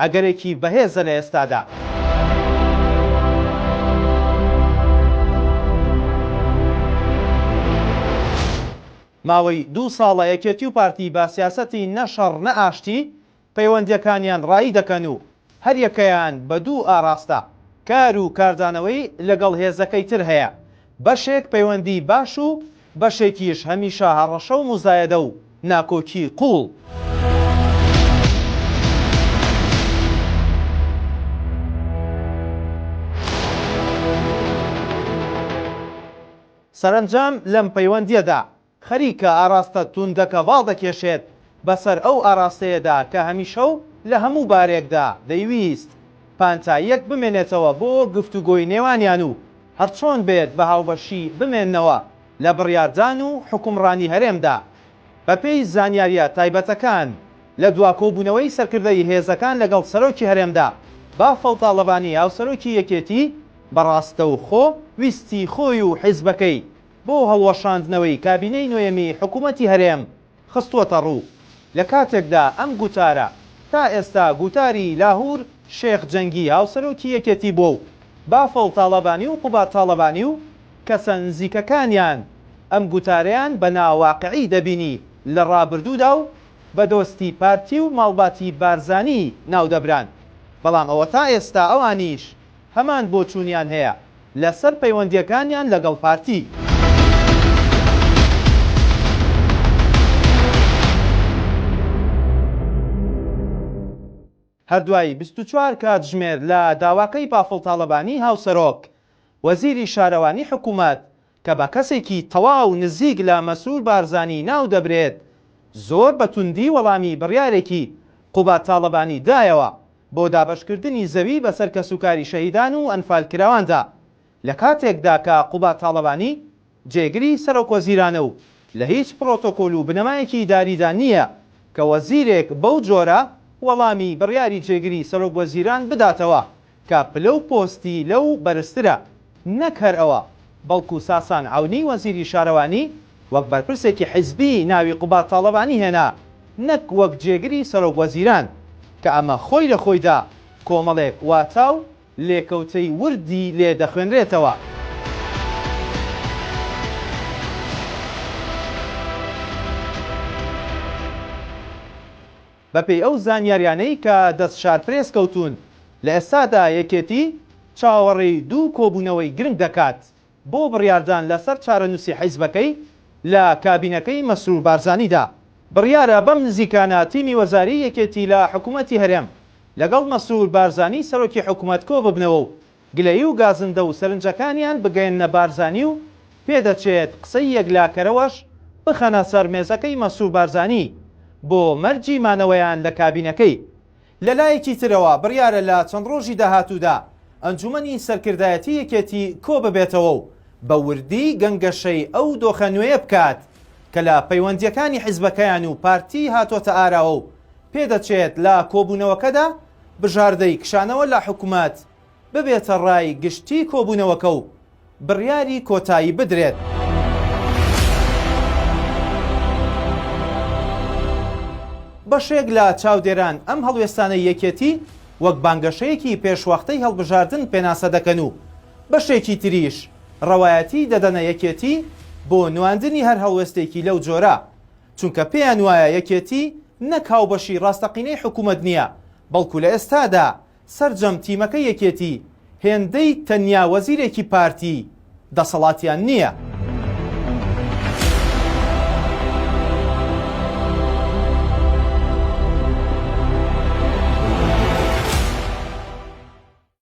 ئەگەرێکی بەهێزە لە ئێستادا. ماوەی دوو ساڵە یەکێتی و پارتی بە سیاسەتی نە شەڕ نە ئاشتی پەیوەندییەکانیان ڕایی دەکەن و هەریەکەیان بە دوو ئاراستە کار و کاردانەوەی لەگەڵ هێزەکەی تر هەیە بەشێک پەیوەندیی باش و بەشێکیش هەمیشە هەڕەشە و موزایەدە و ناکۆکیی قووڵ. سەرەنجام لەم پەیوەندییەدا خەریکە ئاراستە توندە گەڤاڵ دەکێشێت بەسەر ئەو ئاراستەیەدا کە هەمیشە و لە هەموو بارێکدا دەیویست پانتاییەک بمێنێتەوە بۆ گفتوگۆی نێوانیان و هەرچۆن بێت بە هاوبەشی بمێننەوە لە بڕیاردان و حوکمڕانی هەرێمدا. بەپێی زانیارییە تایبەتەکان، لە دوا کۆبوونەوەی سەرکردەی هێزەکان لەگەڵ سەرۆکی هەرێمدا، بافڵ تاڵەبانی هاوسەرۆکی یەکێتی بە ڕاستەوخۆ ویستی خۆی و حیزبەکەی، بۆ هەڵوەشاندنەوەی کابینەی نۆیەمی حکوومەتی هەرێم خستووەتەڕوو، لە کاتێکدا ئەم گوتارە تا ئێستا گوتاری لاهور شێخ جەنگی هاوسەرۆکی یەکێتی بووە و بافڵ تاڵەبانی و قوباد تاڵەبانی و کەسە نزیکەکانیان ئەم گوتارەیان بە ناواقعی دەبینی لە ڕابردوودا و بە دۆستی پارتی و ماڵباتی بارزانی ناودەبران بەڵام ئەوە تا ئێستا ئەوانیش هەمان بۆچوونیان هەیە لەسەر پەیوەندییەکانیان لەگەڵ پارتی. هەر دوای بیست و چوار کاتژمێر لە داواکەی بافڵ تاڵەبانی هاوسەرۆک وەزیری شارەوانی حکوومەت، کە بە کەسێکی تەواو نزیک لە مەسرور بارزانی ناو دەبرێت، زۆر بە توندی وەڵامی بڕیارێکی قوباد تاڵەبانی دایەوە بۆ دابەشکردنی زەوی بەسەر کەسوکاری شەهیدان و ئەنفالکراواندا، لە کاتێکدا کە قوباد تاڵەبانی جێگری سەرۆکوەزیرانە و لە هیچ پرۆتۆکۆل و بنەمایەکی ئیداریدا نییە کە وەزیرێک بەو جۆرە وەڵامی بڕیاری جێگری سەرۆکوەزیران بداتەوە. کە پلە و پۆستی لەو بەرزترە، نەک هەر ئەوە، بەڵکو ساسان عەونی وەزیری شارەوانی وەک بەرپرسێکی حزبی ناوی قوباد تاڵەبانی هێنا، نەک وەک جێگری سەرۆک وەزیران، کە ئەمە خۆی لە خۆیدا کۆمەڵێک واتا و لێکەوتەی وردی لێ دەخوێنرێتەوە. بەپێی ئەو زانیاریانەی کە دەست شارپرێس کەوتوون، لە ئێستادا یەکێتی چاوەڕێی دوو کۆبوونەوەی گرنگ دەکات بۆ بڕیاردان لەسەر چارەنووسی حیزبەکەی لە کابینەکەی مەسرور بارزانیدا. بڕیارە بەم نزیکانە تیمی وەزاریی یەکێتی لە حکوومەتی هەرێم لەگەڵ مەسرور بارزانی سەرۆکی حکوومەت کۆببنەوە و گلەیی و گازندە و سەرنجەکانیان بگەیەننە بارزانی و پێدەچێت قسەی یەکلاکەرەوەش بخەنە سەر مێزەکەی مەسرور بارزانی بۆ مەرجی مانەوەیان لە کابینەکەی. لە لایەکی ترەوە بڕیارە لە چەند ڕۆژی داهاتوودا ئەنجوومەنی سەرکردایەتی یەکێتی کۆببێتەوە و بە وردی گەنگەشەی ئەو دۆخە نوێیە بکات کە لە پەیوەندییەکانی حیزبەکەیان و پارتی هاتۆتە ئاراوە و پێدەچێت لە کۆبوونەوەکەدا بژاردەی کشانەوە لە حکومەت ببێتە ڕای گشتی کۆبوونەوەکە و بڕیاری کۆتایی بدرێت. بەشێک لە چاودێران ئەم هەڵوێستانەی یەکێتی وەک بانگەشەیەکی پێشوەختەی هەڵبژاردن پێناسە دەکەن و بەشێکی تریش ڕەوایەتی دەدەنە یەکێتی بۆ نواندنی هەر هەڵوێستێکی لەو جۆرە، چونکە پێیان وایە یەکێتی نەک هاوبەشی ڕاستەقینەی حکوومەت نییە، بەڵکو لە ئێستادا سەرجەم تیمەکەی یەکێتی هێندەی تەنیا وەزیرێکی پارتی دەسەڵاتیان نییە.